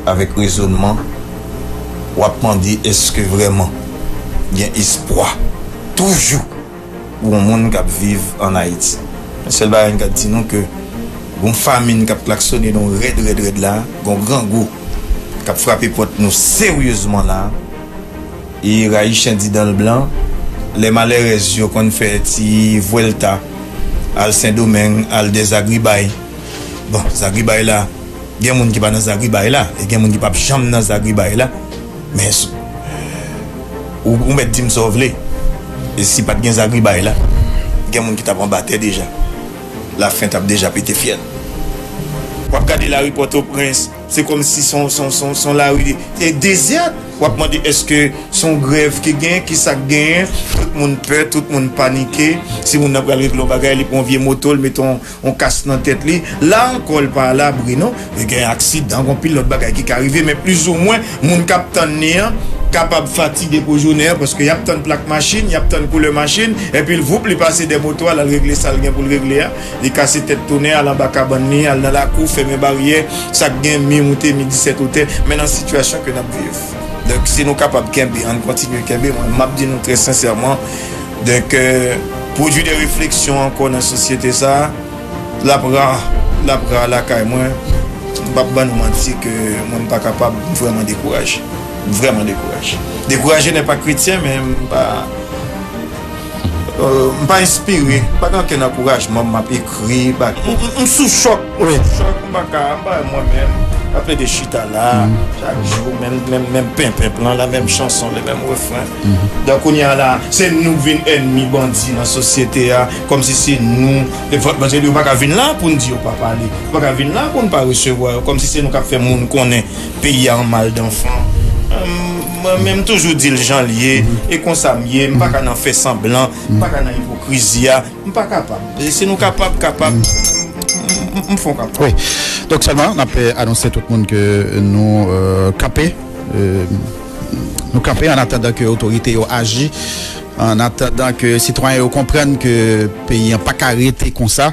Avèk rezonman, w ap mande èske vrèman gen espwa toujou pou yon moun k ap viv ann Ayiti? Yon sèl bagay m ka di nou ke gon famin k ap klaksone nou rèd rèd rèd la, gon grangou k ap frape pòt nou seryezman la. E rayi chen di dan l blan. Lè malèrèz yo konn fè ti vwèlta al Sendomeng, al dè zagribay. Bon, zagribay la, gen moun ki pa nan zagribay la e gen moun ki pap janm nan zagribay la. Men, ou mèt di m sa w vle, e si pat gen zagribay la, gen moun ki tap anba tè deja. Lafen tap deja pete fyèl. Wap gade lari Pòtoprens. Se kom si son lari dezert wap mande eske son grev ki gen kisak gen tout moun pè tout moun panike si moun nan pral regle yon bagay li pran vye moto li mete yon kas nan tet li la anko li pa alabri non li gen aksidan gon pil lot bagay ki ka rive men plis ou mwen moun kap tann li an kapab fatige pou jounen an paske yap tann plak machin yap tann koulè machin epil voup li pase dè moto a lal regle sal gen poul regle a. Li kase tèt tounen al anba kabann li, al nan lakou, fèmen baryè, sa k gen mi moute, mi disèt wotè, men nan sitiyasyon ke n ap viv. Donk, si nou kapab kenbe, ann kontinye kenbe. Mwen, m ap di nou trè sensèman, donk, pwodui de refleksyon ankò nan sosyete sa a, l ap ra. L ap ra lakay mwen. M p ap ban nou manti ke mwen m pa kapab, m vrèman dekouraje. M vrèman dekouraje. Dekouraje nè pa kretyen, men m pa. M pa enspire, m pa gen ankenn ankourajman m ap ekri bagay. M sou chòk, m pa ka, m pa wè mwen menm m ap plede chita la a chak jou menm menm menm penpenp lan la, menm chanson le menm refren. Donk kounye a la a se nou k vin ènmi bandi nan sosyete a kòmsi se nou paske yo pa ka vin la a pou n di yo pa pale, yo pa ka vin la a pou n pa resevwa yo kòmsi se nou k ap fè moun konnen peyi a an maldanfan. Mwen menm toujou dil janl ye e konsam ye m paka nan fè sanblan m paka nan ipokrizi a m pa kapab e si nou kapab kapab m fon kapab. Wi donk sèlman nap anonse tout moun ke nou kanpe nou kanpe an atandan ke otorite yo aji an atandan ke sitwayen yo konprann ke peyi an paka rete konsa.